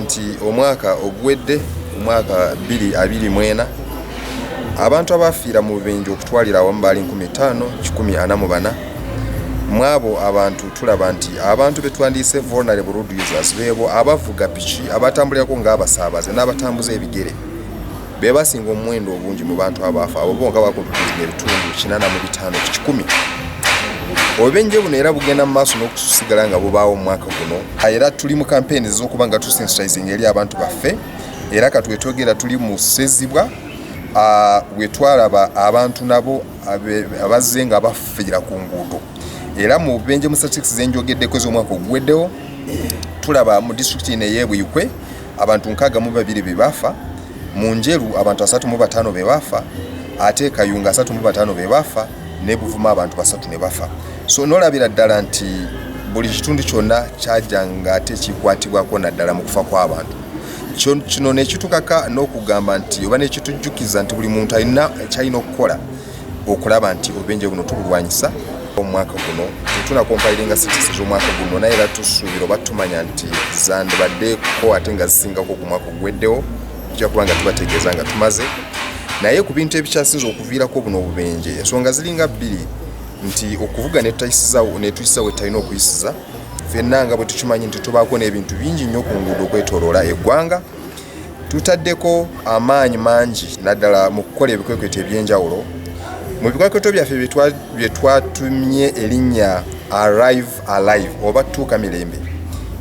nti omwaka oguwedde omwaka 224 abantu abaafiira mu bubinja okutwalira awamu baali 5144 mwabo abantu tulaba nti abantu betwandiyise vulnerable road users beebo abavuga piki abatambulirako ng'abasaabaze n'abatambuza ebigere be basinga omuwendo obungi mu bantu abaafa abo bonka bakontulira ebitundu kinana mu bitaano ku kikumi obubenje buno era bugenda mu maaso n'okusigala nga bubaawo mu mwaka guno era tuli mu kampeyini ez'okuba nga tusensitizinga eri abantu baffe era katwetwogera tuli mu ssezibwa wetwalaba abantu nabo abazze nga bafeera ku nguudo era mu bubenje mu statistics zenjogeddeko ez'omwaka oguweddewo tulaba mu disitulikiti ino eyebuyikwe abantu nkaaga mu babiri be baafa mu njeru abantu asatu mu bataano be baafa ate e kayunga asatu mu bataano be baafa ne buvuma abantu basatu ne bafa so nolabira ddala nti buli kitundu kyonna kyajanga ate kikwatibwako naddala mu kufa kw'abantu kino nekitukaka n'okugamba nti oba nekitujjukiza nti buli muntu alina kyalina okukola okulaba nti obubenje buno tubulwanyisa omwaka guno tetuna kompairinga sitisi z'omwaka guno naye era tusuubira oba tumanya nti zandibaddeko ate nga zisingako ku mwaka ogweddewo tujja kuba nga tubategeeza nga tumaze naye ku bintu ebikyasinza okuviirako buno obubenje ensonga ziringa bbiri nti okuvuga netuyisiza wetalina okuyisiza fenna nga bwe tukimanyi nti tubaako n'ebintu bingi nnyo ku nguudo okwetoloola eggwanga Tutaddeko amaanyi mangi naddala mu kukola ebikwekweto eby'enjawulo. Mu bikwekweto byaffe bye twatumye erinnya Arrive Alive oba Tuuka Mirembe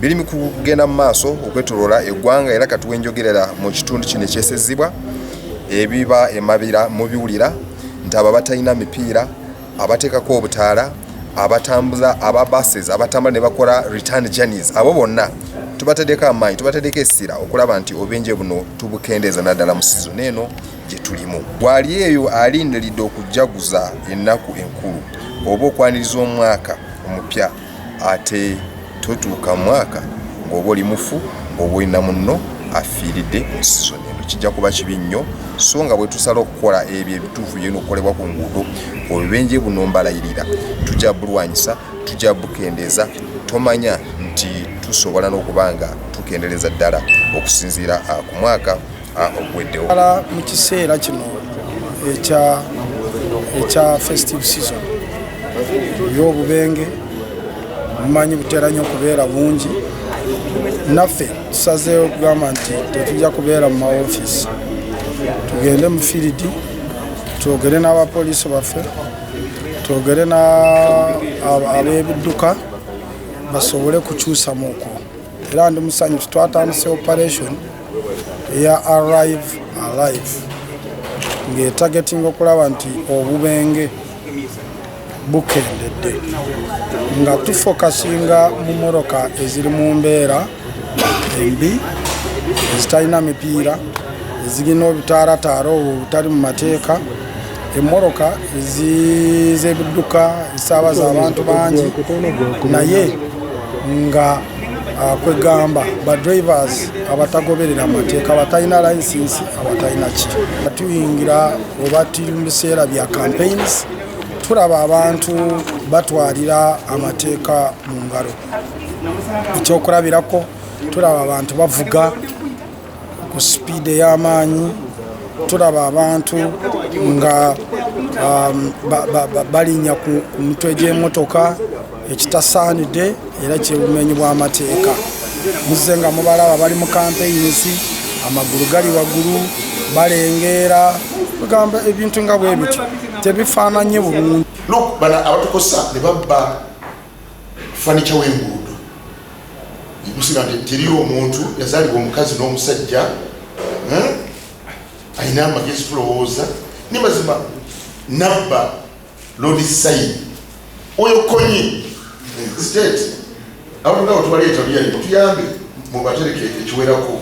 biri mu kugenda mu maaso okwetoloola eggwanga era kati wenjogerera mu kitundu kino ekyesezzibwa ebiba emabira mubiwulira nti abo abatalina mipiira abateekako obutaala abatambuza aba buses abatambula ne bakola return journeys abo bonna tubatadeko amaanyi tubatadeko essira okulaba nti obenje buno tubukendeeza naddala mu sizoni eno gye tulimu waali eyo alindiridde okujjaguza ennaku enkulu oba okwaniriza omwaka omupya Ate totuuka mwaka ng'oba oli mufu oba olina munno afiiridde mu sizoni eno. Kijja kuba kibi nnyo so nga bwe tusala okukola ebyo ebituufu byona okukolebwa ku nguudo obubenje buno mbalayirira tujja bulwanyisa tujja bukendeeza tomanya nti tusobola n'okuba nga tukendereza ddala okusinziira ah, ku mwaka oguweddewo ala mu kiseera kino ekya ekya festive season yobubenge mumanyi butera nyo okubeera bungi naffe tusazeewo okugamba nti tetujja kubeera mu maofiisi tugende mu firidi twogere n'abapoliisi baffe twogere n'abebidduka basobole kukyusa muko era ndi musanyu twatandise operation eya arrive alive ng'etagetinga okulaba nti obubenge bukendedde nga tufokasinga mu moroka eziri mu mbeera embi ezitalina mipiira ezirina obutaarataara obwo obutali mu mateeka emmoloka z'ebidduka esaabaza abantu bangi naye nga ah, kwegamba badrivers abatagoberera amateeka abatalina licensi abatalina ki tuyingira oba tuli mu biseera bya campaigns tulaba abantu batwalira amateeka mu ngalo ekyokulabirako tulaba abantu bavuga ku sipiidi ey'amaanyi tulaba abantu nga um, balinnya ku mitwe gy'emotoka ekitasaanidde era kyebumenyi bw'amateeka muzze nga mubalaba bali mu kampeyinsi amagulu gali waggulu balengeera bagamba ebintu nga bwe bityo tebifaananye bulungi abatukosa ne babba fanica w'enguudo negusiba nti teri omuntu yazaalibwa omukazi n'omusajja eh, alina amagezi tulowooza ne mazima nabba lodi sayini oyo konye state abantu nga wetubaleeta luyali mutuyambe mubatereke ekiwerako